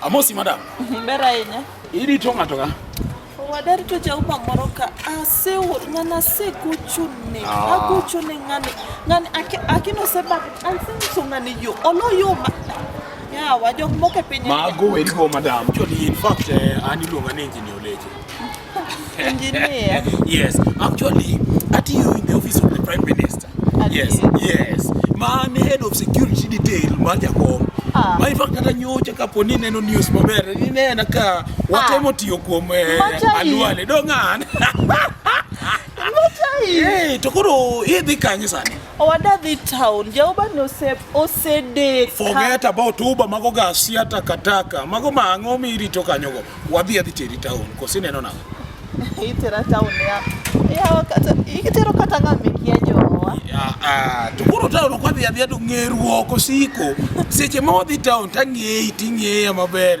Amosi madam. Ber ahinya. Idi to ng'ato ka? Wadar to jauma moro ka asewo ng'ana asegochone ah. agochone ng'ani ng'ani akino sebag asenyiso ng'ani yo olo yo ma Yeah, wajok moko e piny. Mago weri go madam. Actually, in fact, eh, an iluonga ni engineer Oleche. Engineer. Yes, actually, atiyo in the office of the Prime Minister. Yes, yes. Ma an head of security detail mar jakom. Ah. Ma in fact kata nyocha kapo ni neno news maber, inena ka watemo ah. tiyo kuom eh, aluale. Dong'an. Hey, to koro idhi kanye sani? Owadadhi town jaoba ni ose osedeko. Forget about Uber mago gasi hata kataka. Mago ma ang'o mi irito kanyogo. Wadhi adhi teri town. Kosi neno na. Itera town ya. Ya kata ikitero kata ng'ame kia jowa. Ah ah. To koro town ok adhi adhi ado ng'eruok osiko. Seche ma wadhi town tang'eyi ting'eya maber.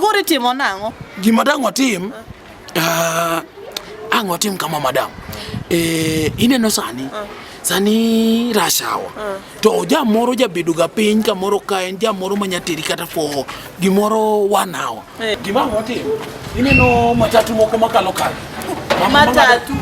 Koro itimo nang'o? Gima dang' otim, ah, ang' otim kama madam. Eh, ineno sani ah. sani rashawa ah. to jamoro jabedoga piny kamoro ka en jamoro manyateri kata for gimoro one hour Eh. Gima watimo, ineno matatu moko makalo kalo. Matatu.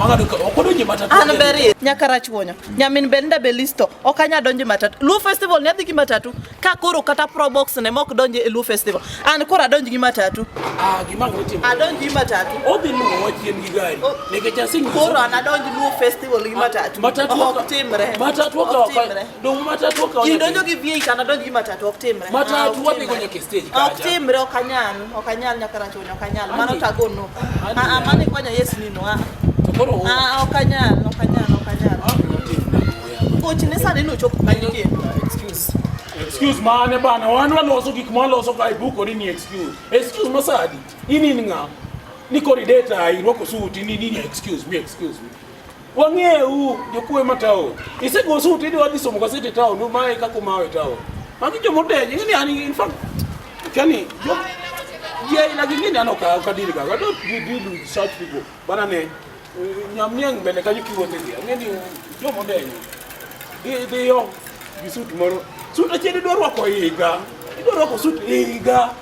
Okodonje matatu. An beri. Nyaka rach wonyo. Nyamin be nda be listo. Ok anya donje matatu. Luo festival ne adhi gi matatu. Ka koro kata pro box ne mok donje e Luo festival. An koro adonj gi matatu. Ah, gima watimo. Adonj gi matatu. Odhi luwo wachien gi gari. Nikech asingi. Koro an adonj Luo festival gi matatu. Matatu. Ok timre. Matatu. Ok timre. Dong matatu ka Ji donjo gi V8 ana donjo gi matatu ok timre. Matatu ah, wapi kwenye stage kaja. Ok timre ok anyal, ok anyal nyaka racho ok anyal. Mano tago no. Ah, ah mane kwanya yes ni no. Ah. To koro ah ok anyal, ok anyal, ok anyal. Coach ne sani no chop kanyo ke. Excuse. Excuse mane bana, wan waloso gik ma waloso ka ibuko ni ni excuse. Excuse masadi. Ini ni ng'a? Niko ni data irwako suit ni ni excuse me, excuse me. Wang'eyu jokuoe ma taon. Isego sut idwa dhi somo gazeti taon, umaye kaka umawe taon. Magi joma odenyo, ing'e ni an in fact, kani jo ji aina gi ng'ini an ok ok adil ga. I don't deal deal with such people. Bana ne nyamniang' mbele kanyo kiwuothe gi. Ang'e ni joma odenyo. Dhi dhiyo gi sut moro. Sut achiel idwa rwako higa. Idwa rwako sut higa.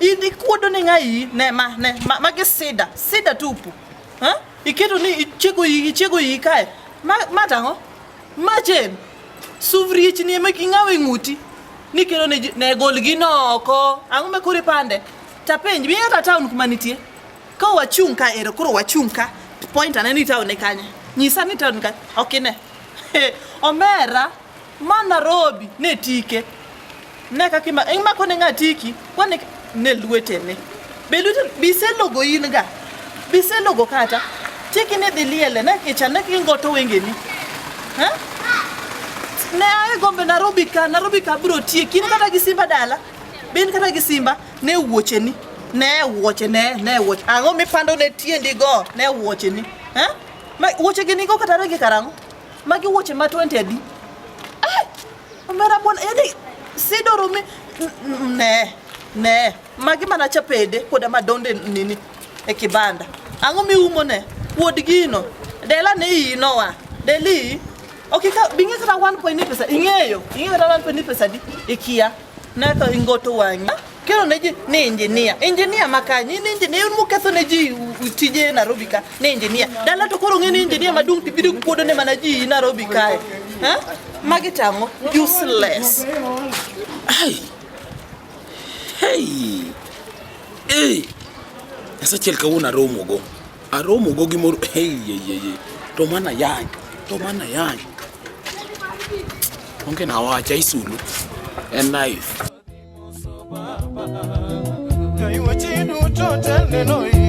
Idi kuodo ni ngai ne ma ne ma, ma gi sida sida tupu ha iketo ni ichego yi ichego yi kae ma ma tango ma chen suvriech ni ema kingawe nguti ni kero ne, ne gol gi noko ango me kore pande tapenj bi ata town kuma nitie ka wachung ka ero koro wachung ka point aneni town ne kanye nyisa ni town ka okine okay, omera Ma Nairobi ne tike. Ne kaka ima- imako ne ng'a tiki, kwane ne lwetene. Be lwetene, be iselogo in ga? Be iselogo kata? Tiki ne dhi liele, ne kicha, ne kingoto wengeni. Ha? ne ae gombe Nairobi ka Nairobi ka bro tie kin kata gi Simba dala bin kata gi Simba ne wuoche ni ne wuoche ne ne wuoche ang'o mipando ne tiendi go ne wuoche ni eh ma wuoche gi nigo kata rangi karango Magi wuoche ma 20 adi? Eh, omera bwana, yani sidoro mi ne ne magi mana chapede koda madonde nini e kibanda. Ang'o miumo ne? Wuod gino. Dela ne iyi nowa. Deli Okay, ka bingi kata 1.9 pesa ing'eyo ing'eyo kata 1.9 pesa di ikia Naka ingoto wang'a kero ne ji ni injinia injinia makanyi ni injinia un muketho ne ji tije Nairobi ka ni injinia dala to koro ng'e ni injinia maduong' to ibiro kuodo ne mana ji Nairobi kae ha magi tang'o useless ai hey hey Nyasachiel kawuono aromogo Aromo go gi mor hey ye ye ye. To mana yany. To mana yany. Onge na wacha isulu. En knife. Kaiwa chidu to tende no